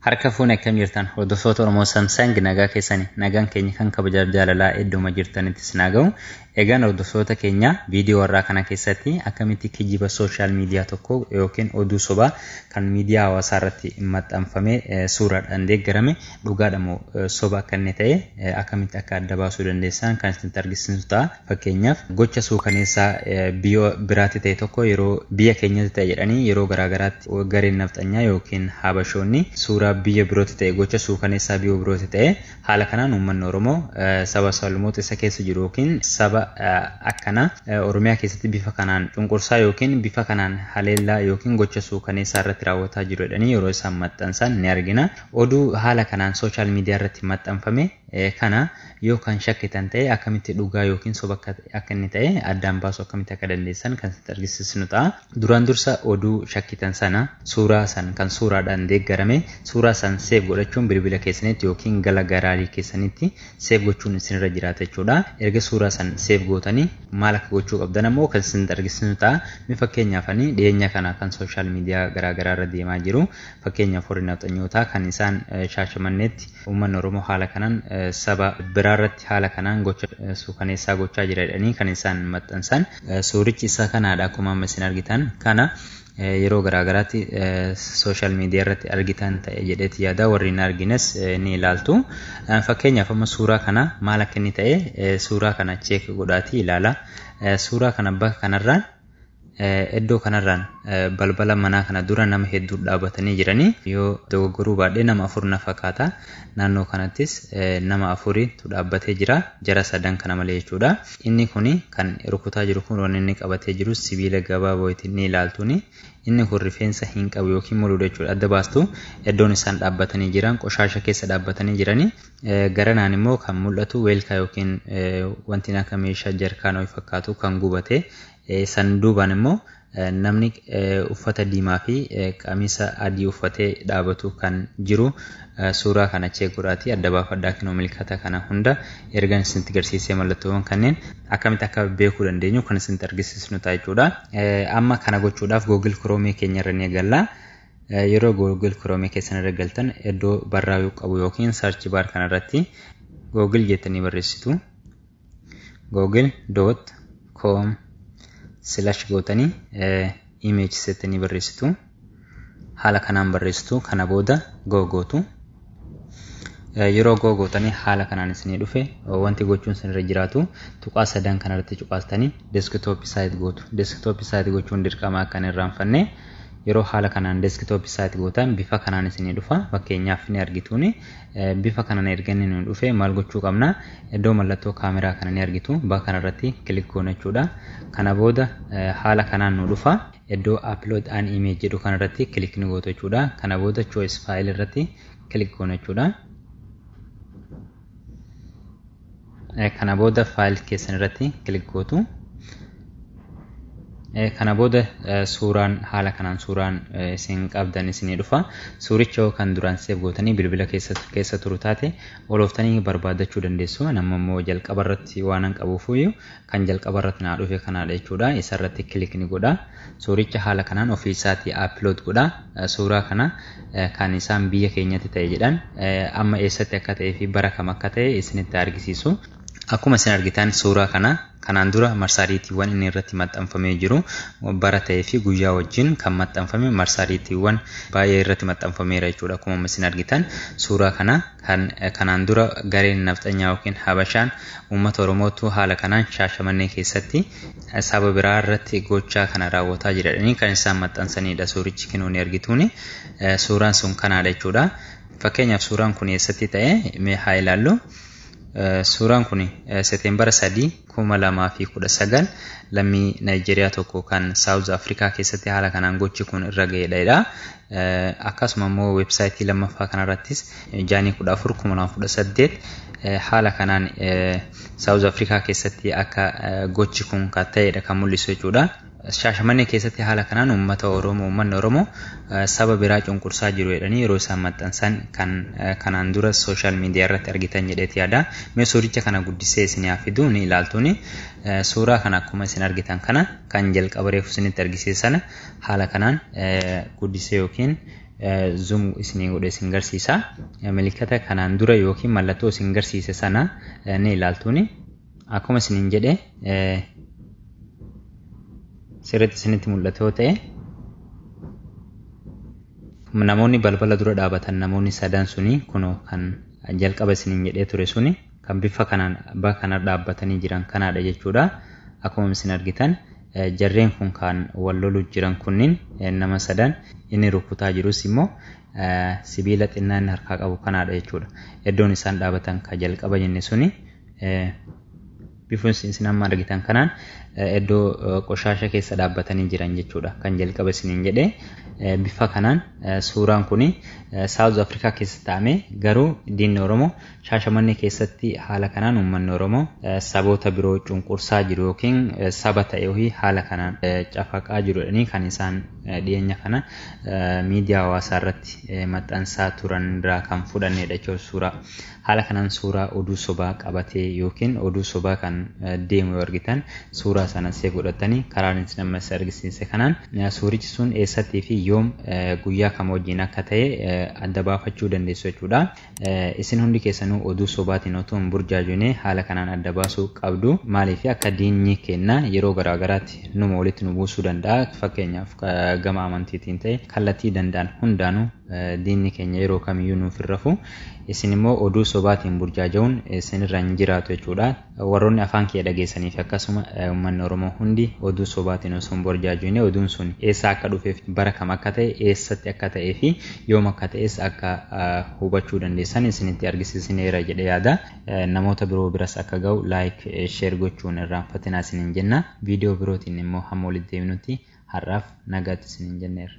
Harka fuunee akkam jirtan hordoftoota Oromoo Samsang nagaa keessani nagaan keenya kan kabajaa jaalalaa idduma jirtanitti isin haa ga'u. Egaan hordoftoota keenya viidiyoo warraa kana keessatti akkamitti kijiba sooshaal miidiyaa tokko yookiin oduu sobaa kan miidiyaa hawaasaa irratti maxxanfame suuraadhaan deeggarame dhugaadhamoo soba akka inni ta'e akkamitti akka adda baasuu dandeessan kan isinitti argisiisu ta'a. Fakkeenyaaf, gocha suukaneessaa biyya biraatti ta'e tokko yeroo biyya keenyatti ta'e jedhanii yeroo garaa garaatti gareen nafxanyaa ykn Habashoonni suuraa biyya birootti ta'e gocha suukaneessaa biyya birootti ta'e haala kanaan uummanni Oromoo saba sablammoota isa keessa jiru ykn saba akkanaa Oromiyaa keessatti bifa kanaan cunqursaa ykn bifa kanaan haleellaa ykn gocha suukaneessaa irratti raawwataa jiru jedhanii yeroo isaan maxxansan ni argina. Oduu haala kanaan social media irratti maxxanfame kana yoo kan shakkitan ta'e akkamitti dhugaa yookiin soba akka akka inni ta'e addaan baasu akkamitti akka dandeessan kan sitti argisiisnu ta'a. Duraan dursa oduu shakkitan sana suuraa san kan suuraadhaan deeggarame suuraa san seef godhachuun bilbila keessanitti yookiin gala garaalii keessanitti seef gochuun isinirra jiraata jechuudha. Erga suuraa san seef gootanii maal akka gochuu qabdan ammoo kan sitti argisiisnu ta'a. Mee fakkeenyaaf ani dhiyeenya kana kan sooshaal miidiyaa garaagaraa irra deemaa jiru fakkeenyaaf warri nafxanyootaa kan isaan shaashamanneetti Uummanni Oromoo haala kanaan saba biraarratti haala kanaan gocha suukaneessaa gochaa jira jedhanii kan isaan maxxansan. Suurichi isa kanaadha akkuma amma isin argitan kana yeroo garaagaraatti sooshaal miidiyaa irratti argitan ta'e jedheeti yaada warri hin argines ni ilaaltu. Fakkeenyaaf amma suuraa kana maal akka inni ta'e suuraa kana cheek godhaatii ilaala. Suuraa kana bakka kanarraan Iddoo kanarraan balbala manaa kana dura nama hedduu dhaabatanii jiranii yoo dogoggoruu baadhee nama afur na fakkaata. Naannoo kanattis nama afuriitu dhaabbatee jira. Jara sadan kana malee jechuudha. Inni kun kan rukutaa jiru kun wanni inni qabatee jiru sibiila gabaaboo ittiin ni ilaaltuuni. Inni kun rifeensa hin qabu yookiin muluudha jechuudha. Adda baastu iddoon isaan dhaabbatanii jiran qoshaasha keessa dhaabbatanii jiranii Garanaan immoo kan mul'atu weelkaa yookiin wanti akka meeshaa jarkaan ho'i fakkaatu kan gubate san duubaan immoo namni uffata diimaa fi qamisa adii uffatee dhaabatu kan jiru suuraa kana chee godhaatii adda baafadhaa kinoo milkata kana hunda ergan isinitti garsiisee mallattoowwan kanneen akkamitti akka beekuu dandeenyu kan isinitti argisiisnu ta'a jechuudha. Amma kana gochuudhaaf Google Chrome keenya irra ni eegalla. Yeroo Google Chrome keessan irra galtan iddoo barraa'uu qabu yookiin search bar kana irratti Google jettanii barreessitu. Google.com slash gootanii image jettanii barreessitu. Haala kanaan barreessitu kana booda go gootu. Yeroo goo gootanii haala kanaan isinii dhufe wanti gochuun isinirra jiraatu tuqaa sadan kanarratti cuqaastanii deeskitooppii saayit gootu. Deeskitooppii saayit gochuun dirqama akka hin irraanfanne yeroo haala kanaan deeskitooppii saayit gootan bifa kanaan isinii dhufa. Fakkeenyaaf ni argituuni bifa kanaan erga inni nu dhufe maal gochuu qabna? Iddoo mallattoo kaameraa kana ni argitu. Bakka kanarratti kilik goona jechuudha. Kana booda haala kanaan nu dhufa. Iddoo upload an image jedhu kana irratti click ni gootu jechuudha. Kana booda choice file irratti click goona jechuudha. Kana booda file keessan irratti click gootu. Kana booda suuraan haala kanaan suuraan isin qabdan isinii dhufa. Suuricha yoo kan duraan seef gootanii bilbila keessa turu taate olooftanii barbaadachuu dandeessu. Nama immoo jalqaba irratti waanan qabuufuyyuu kan jalqaba irratti naa dhufe kanaadha jechuudha isa irratti kilik ni godha suuricha haala kanaan ofii isaatii appilood godha suuraa kana kan isaan biyya keenyatti ta'e jedhan amma eessatti akka ta'ee fi bara kam akka ta'e isinitti argisiisu akkuma isin argitan suuraa kana kanaan dura marsaariitiiwwan inni irratti maxxanfamee jiru bara ta'ee fi guyyaa wajjin kan maxxanfame marsaariitiiwwan baay'ee irratti maxxanfameera jechuudha akkuma isin argitan suuraa kana Kan kanaan dura gareen nafxanyaa ykn Habashaan uummata Oromootu haala kanaan Shaashamannee keessatti saba biraa irratti gochaa kana raawwataa jira jedhanii kan isaan maxxansaniidha. Suurichi kinooni argituuni suuraan sun kanaadha jechuudha. Fakkeenyaaf suuraan kun eessatti ta'e mee haa ilaallu. Suuraan kun Seteembara 3 2019 lammii Naayijeeriyaa tokko kan Saawuz Afrikaa keessatti haala kanaan gochi kun irra ga'edha. Akkasuma immoo weebsaayitii lammaffaa kanarrattis Jaanii 14 2018 haala kanaan Saawuz Afrikaa keessatti akka gochi kun kan ta'edha kan mul'isu jechuudha. Shaashamannee keessatti haala kanaan uummata Oromoo uummanni Oromoo saba biraa cunqursaa jiru jedhanii yeroo isaan maxxansan kan kanaan dura sooshaal miidiyaa irratti argitan jedheeti yaada. Mee suuricha kana guddisee isin haa fiduu ni ilaaltuuni. Suuraa kana akkuma isin argitan kana kan jalqaba reefu isinitti argisiise sana haala kanaan guddisee yookiin zoom isinii godhe isin garsiisa. Mallattoo kanaan dura yookiin mallattoo isin garsiise sana ni ilaaltuuni. akkuma isinin jedhe sirriitti isinitti mul'atu yoo ta'e namoonni balbala dura dhaabatan namoonni sadan suni kunoo kan jalqaba isinin jedhee ture suni kan bifa kanaan abbaa kana dhaabbatanii jiran kanaadha jechuudha akkuma isin argitan jarreen kun kan wal lolu jiran kunniin nama sadan inni rukutaa jirus immoo sibiila xinnaa inni harkaa qabu kanaadha jechuudha iddoon isaan dhaabatan ka jalqaba jenne suni Bifni isin amma argitan kanaan iddoo qoshaasha keessa dhaabbatanii jiran jechuudha. Kan jalqaba isiniin jedhe bifa kanaan suuraan kun Saawuz Afrikaa keessa taa'ame garuu diinni Oromoo shaashamannee keessatti haala kanaan uummanni Oromoo saboota biroo cunqursaa jiru yookiin saba ta'e wayii haala kanaan cafaqaa jirudhanii kan isaan dhiyeenya kana miidiyaa hawaasaa irratti maxxansaa turan irraa kan fudhannedha jechuudha suuraa. Haala kanaan suuraa oduu sobaa qabatee ykn oduu sobaa kan deemu yoo argitan suuraa sana save godhattanii karaa ani isin amma isin argisiise kanaan suurichi sun eessattii fi yoom guyyaa kam wajjin akka ta'e adda baafachuu dandeessu jechuudha. Isin hundi keessanuu oduu sobaatiin otoo hin burjaajone haala kanaan adda baasuu qabdu. Maaliif akka diinni keenna yeroo garaa garaatti numa walitti nu buusuu danda'a. Fakkeenyaaf gama amantiitiin ta'e kallattii danda'an hundaanuu diinni keenya yeroo kamiyyuu nuuf hin rafu. Isin immoo oduu sobaatiin burjaaja'uun isin irra hin jiraatu jechuudha. Warroonni afaan kiyya dhageessanii fi akkasuma uummanni Oromoo hundi oduu sobaatiin osoo hin burjaajoyne oduun sun eessaa akka dhufeef bara kam akka ta'e eessatti akka ta'ee fi yoom akka ta'es akka hubachuu dandeessan isinitti argisiisineera jedhe yaada. Namoota biroo biras akka ga'u like share gochuun irraanfatinaa isiniin jenna. Viidiyoo birootiin immoo hamma walitti deebinutti har'aaf nagaatti isiniin jenneera.